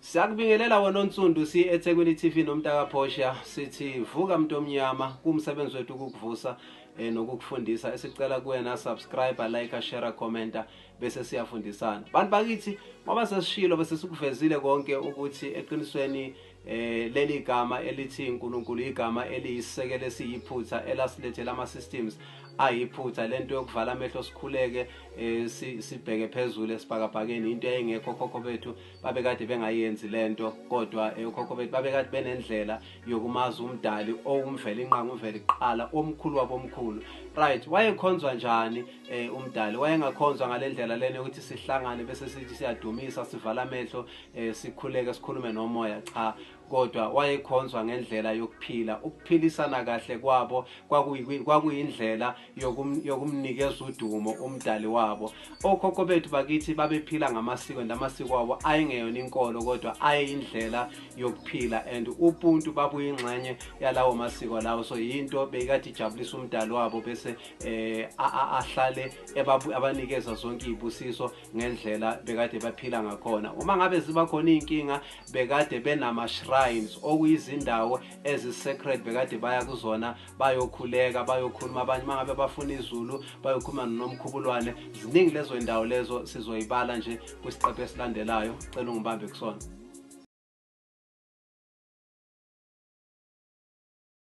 Siyakubingelela wena onsundu si eThekwini TV nomntaka Portia sithi vuka mntu omnyama kumsebenzi wethu ukukuvusa eh, nokukufundisa esicela kuwena subscribe like share commenta bese siyafundisana bantu bakithi ngoba sesishilo bese sikuvezile konke ukuthi eqinisweni eh leli igama elithi uNkulunkulu igama eliyisisekelo esiyiphutha elasilethela ama systems ayiphutha lento yokuvala amehlo sikhuleke eh, sibheke phezulu esibhakabhakeni into eyayingekho okhokho bethu babekade bengayenzi le nto kodwa eh, okhokho bethu babekade benendlela yokumazi umdali owumveli inqanga umveli kuqala omkhulu wabomkhulu right wayekhonzwa njani eh, umdali wayengakhonzwa ngale ndlela lena yokuthi sihlangane bese sithi siyadumisa sivala amehlo sikhuleke sikhulume nomoya cha kodwa wayekhonzwa ngendlela yokuphila ukuphilisana kahle kwabo kwakuyindlela yokumnikeza udumo umdali wabo okhokho bethu bakithi babephila ngamasiko and amasiko abo ayengeyona inkolo kodwa ayeyindlela yokuphila and ubuntu babuyingxenye yalawo masiko lawo so yinto beyikade ijabulisa umdali wabo bese um ahlale abanikeza zonke iy'busiso ngendlela bekade baphila ngakhona uma ngabe ziba khona iy'nkinga bekade benama-shrines okuyizindawo ezi-secret bekade baya kuzona bayokhuleka bayokhuluma abanye uma ngabe bafuna izulu bayokhuluma nonomkhubulwane ziningi lezo y'ndawo lezo sizoyibala nje kwisiqephu esilandelayo cela ungibambe kusona